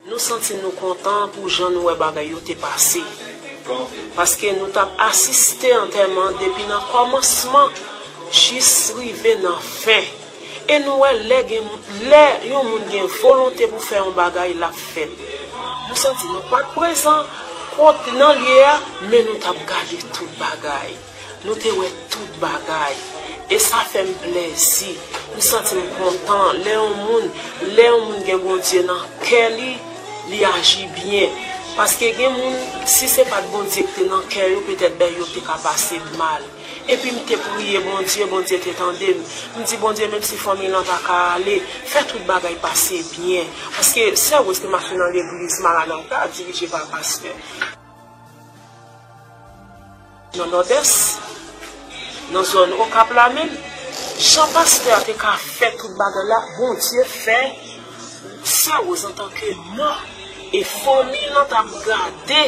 Nou santi nou kontan pou jan nou wè bagay yo te pase. Paske nou t ap asiste antèman depi nan kòmansman jis rive nan fen. E nou wè lè gen lè yon moun gen volonte pou fè yon bagay l ap fè l. Nou santi nou pa t prezan kont nan lye a, men nou t ap gade tout bagay. Nou te wè tout bagay. E sa fè m plèzi. M santi m kontan lè yon moun, lè yon moun gen Bondye nan kè li, li aji byen. Paske gen moun, si se pa t Bondye ki te nan kè yo, petèt bèy yo te ka pase l mal. Epi m te priye Bondye, Bondye te tande m. M di Bondye menmsi fanmiy lan pa ka ale, fè tout bagay pase byen. Paske sè Rose te mache nan legliz Maranata dirije pa pastè. Nan Nòdès, nan zòn Okap la menm, jan pastè a te ka fè tout bagay la, Bondye fè Sè Woz antanke man e fanmi lan t ap gade,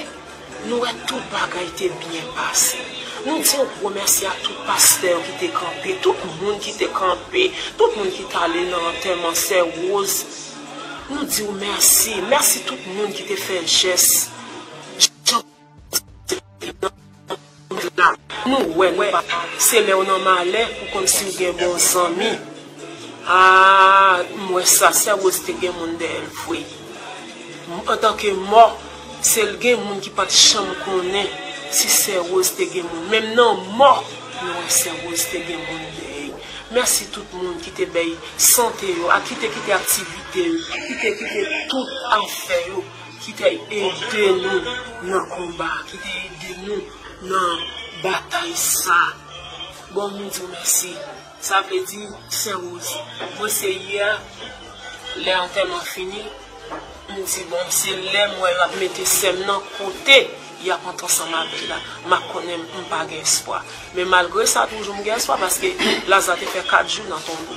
nou wè tout bagay te byen pase. Nou di yon gwo mèsi a tout pastè yo ki te kanpe, tout moun ki te kanpe, tout moun ki t ale nan antèman Sè Woz, nou di w mèsi, mèsi tout moun ki te fè jès jan. Nou wè nou pa Se lèw nan malè ou konn siw gen bon zanmi Aah m wè sa sè Rose te gen moun dèyèl vre Antanke mò Sel gen moun ki pat janm konnen si sè Rose te gen moun menm nan mò nou wè sè Rose te gen moun dèyèl Mèsi tout moun ki te bèy sante yo ak ki te kite aktivite yo ki te kite tout afè yo ki te ede nou nan konba, ki te ede nou nan batay sa. Bon nou di w mèsi. Sa vle di, Sè Woz, mwen se yè, lè antèman fini, m di bon se lè m wè y ap mete sè m nan kote y ap antre ansanm avè l la, m ap konnen m pa gen espwa. Men malgre sa toujou m gen espwa paske Laza te fè 4 jou nan tonbo.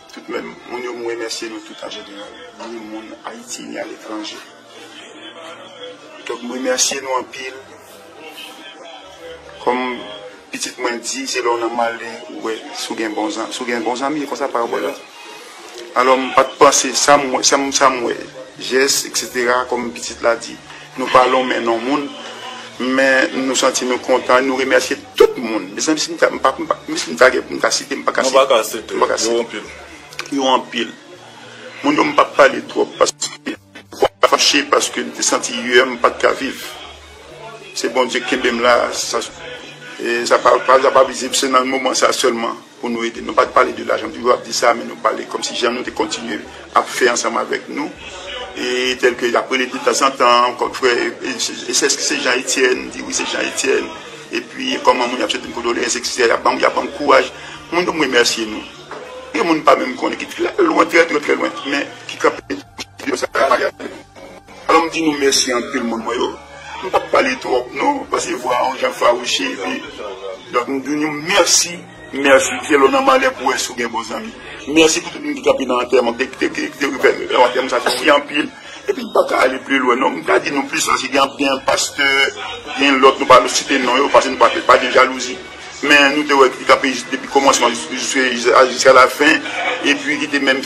Tout mèm moun yo m remèsye nou tout an jeneral ni moun ayiti ni aletranje donk m remèsye nou anpil kòm pitit mwen di se lè w nan male ou wè si w gen bon zanmi si w gen bon zanmi e konsa parabòl la alò m pat panse sa m wè jès eksetera kòm pitit la di Nou pa lonmen non moun men nou santi nou kontan nou remèsye tout moun mezanmi si m ta si m ta gen pou m ta site m pa ka site nou pa ka site yo anpil yo anpil moun yo m pap pale twòp paske kò m fache paske m te santi yè m pat ka viv se Bondye kenbe m la sa sa pa vizib se nan moman sa sèlman. pou nou ede nou pat pale de lajan nou toujou ap di sa men nou pale kòmsi jan nou te kontinye ap fè ansanm avèk nou e tèlke ap rele de tanzantan kòm frè esèske se Jean Etienne m di wi se Jean Etienne epi kòman moun y ap swete m kondoleyans eksetera y ap banm y ap banm kouraj moun yo m remèsye nou gen moun m pa menm konnen ki lwen trè trè lwen men ki kanpe Alò m di nou mèsi anpil moun mwen yo. M pap pale twòp non pase vwa a yon jan fawouche epi donk m di nou mèsi, mèsi fè lò nan malè pou wè si w gen bon zanmi. Mèsi pou tout moun ki te nan antèman m, ki te fè antèman m satisfè anpil epi m paka ale pi lwen non. M ka di nou plis pase gen anpil gen pastè, gen lòt nou pa vle site non yo pase nou pa gen jalouzi men nou te wè ki te kanpe depi kòmansman jiska lafen epi ki te menm.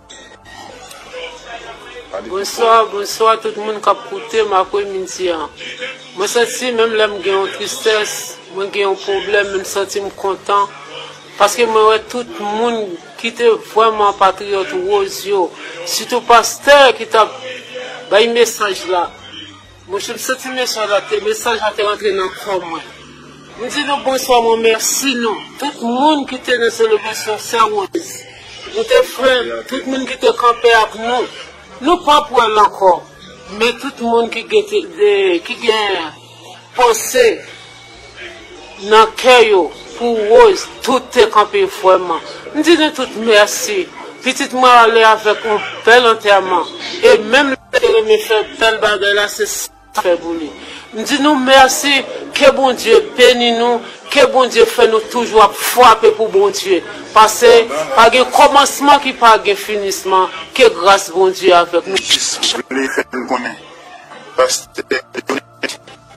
Bonswa bonswa tout moun kap koutem apre midi an mwen santi menm lèm gen yon tristès mwen gen yon pwoblèm men m santim kontan paske mwen wè tout moun kite vrèman patriyòt woz yo sitou pastè ki tap bay mesaj la. Monchè m santi mesaj la te mesaj la te rantre nan kò mwen. M di nou bonswa mwen mèsi nou tout moun ki te nan selebrasyon sè Woz. Nou te frè m tout moun ki te kanpe ak nou. Nou pap wè l ankò men tout moun ki gen panse. nan kè yo pou Rose tout te kanpe vrèman m di nou tout mèsi pitit mwen ale avèk on bèl antèman e menm lè l te renmen fè bèl bagay la se sa m fè pou li m di nou mèsi ke Bondye beni nou ke Bondye fè nou toujou ap frape pou Bondye pase pa gen kòmansman ki pa gen finisman ke gras Bondye avèk nou jis vle fè n konnen pastè Johnny.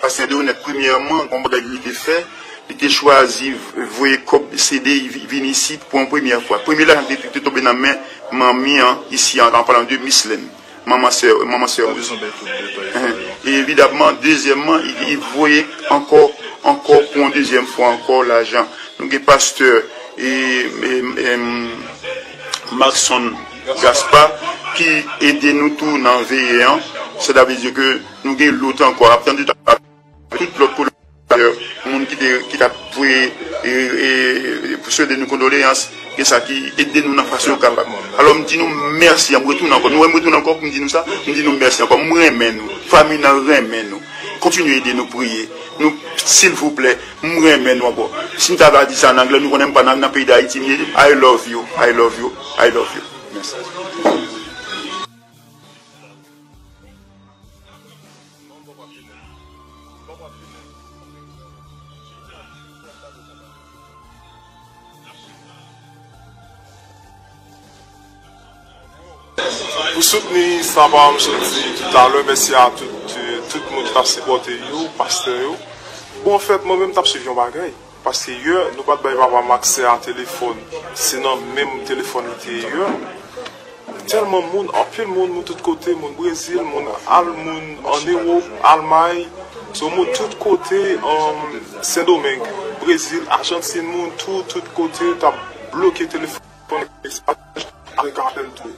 Pastè Deronette premyèman gon bagay li te fè, li te chwazi voye kòb CD vin isit pou yon premyè fwa. Premye lajan ki te tonbe nan men manmi an isi an palan de Mislène, manman sè manman sè Rosie. E evidabman dezyèmman li voye ankò ankò pou yon dezyèm fwa ankò lajan. Nou gen pastè Marcson Gaspard ki ede nou tou nan veye an, sètadizè ke. Nou gen lôt ankô ap tann tout ak tout lôt kolonizatè moun ki te ki tap voye pou swede nou kondoleyans gen sa ki ede nou nan fason yo kapab alô m di nou mèsi m retounen ankô nou wè m retounen ankô pou m di nou sa m di nou mèsi ankô m renmen nou fanmi nan renmen nou kontinye ede nou priye nou silvouplè m renmen nou ankô si m ta va di sa an anglè nou konnen m pa nan peyi dayiti m ye I love you I love you I love you mèsi. Pou soutni sa pa m sot di toutalè mèsi a tout moun ki tap sipòte yo pastè yo bon anfèt mwen menm m tap swiv yon bagay. Paske yè nou pat bay papam aksè a telefòn se nan menm telefòn li te ye yè tèlman moun anpil moun moun tout kote moun brezil moun al moun an ewop almay so moun tout kote an sendomeng brezil ajantin moun tou tout kote tap bloke telefòn. Mwen pral fèl tou.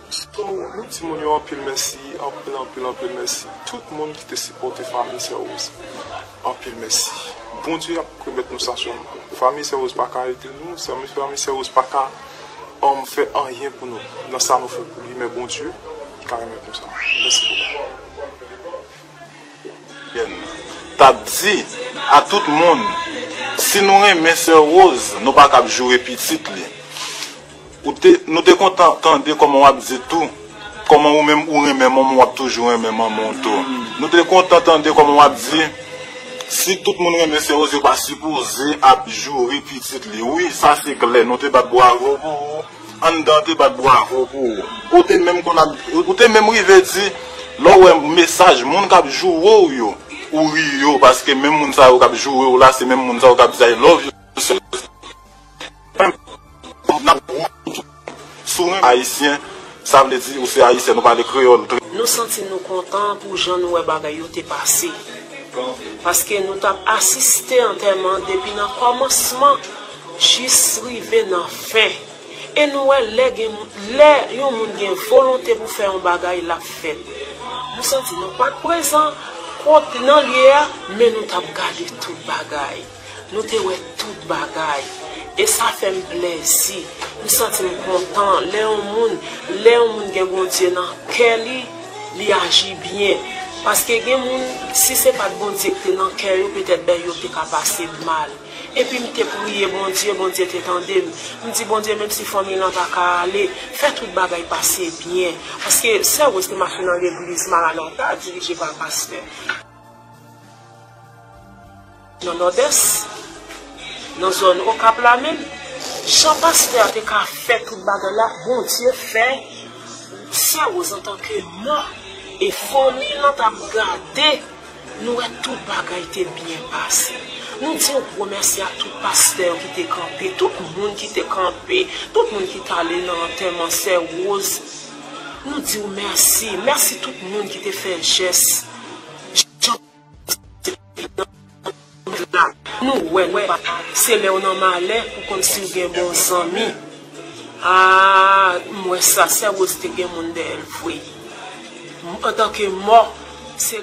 Ou timoun yo anpil mèsi anpil anpil anpil mèsi tout moun ki te sipòte fanmi sè rose anpil mèsi bondye ap remèt nou sa sèlman fanmi sè rose pa ka ede nou fanmi sè rose pa ka fè anyen pou nou nan sa nou fè pou li men bondye ka remèt nou sa mèsi bokou. tap di a tout moun si nou renmen sè Rose nou pa kab joure pitit li nou te kontan tande kòman wap di tou kòman ou menm ou renmen manman w wap toujou renmen manman w tou nou te kontan tande kòman wap di si tout moun renmen sè Rose yo pa sipoze ap joure pitit li wi sa se klè nou te bat bwavo pou ou. Anndan te bat bwavo pou ou. Ou te menm konn ap, ou te menm rive di lè w wè mesaj moun k ap joure w yo, ou ri yo paske menm moun sa yo k ap joure w la se menm moun sa yo k ap di I love you sèlman. Menm n ap goumen pou tout moun. Si w renmen Ayisyen, sa vle di ou se Ayisyèn, ou pale kreyòl trè. Nou santi nou kontan pou jan nou wè bagay yo te pase. Paske nou t ap asiste antèman depi nan kòmansman. Jis rive nan fen. E nou wè lè gen lè yon moun gen volonte pou fè yon bagay lap fèt. Nou santi nou pat prezan kot nan lye a men nou tap gade tout bagay. Nou te wè tout bagay. E sa fèm plèzi. M santim kontan lè yon moun lè yon moun gen Bondye nan kè li li aji byen. Paske gen moun si se pat Bondye ki te nan kè yo petèt bèy yo te ka pase mal. Epi m te priye Bondye, Bondye te tande m. M di Bondye menm si fanmi lan pa ka ale, fè tout bagay pase byen. Paske sè Rose te mache nan legliz Maranata dirije pa pastè. Nan Nòdès, nan zòn Okap la menm, jan pastè a te ka fè tout bagay la, Bondye fè sè Rose antanke man e fanmi lan t ap gade. Nou wè tout bagay te byen pase. Nou di yon gwo mèsi a tout pastè yo ki te kanpe, tout moun ki te kanpe, tout moun ki t ale nan antèman sè Rose. Nou di w mèsi. Mèsi tout moun ki te fè jès. Jan Bondye te nan tout la. Nou wè nou pa t. Se lè w nan malè ou konn si w gen bon zanmi. Aa m wè sa, sè Rose te gen moun dèyè l vre. Antanke mò, se.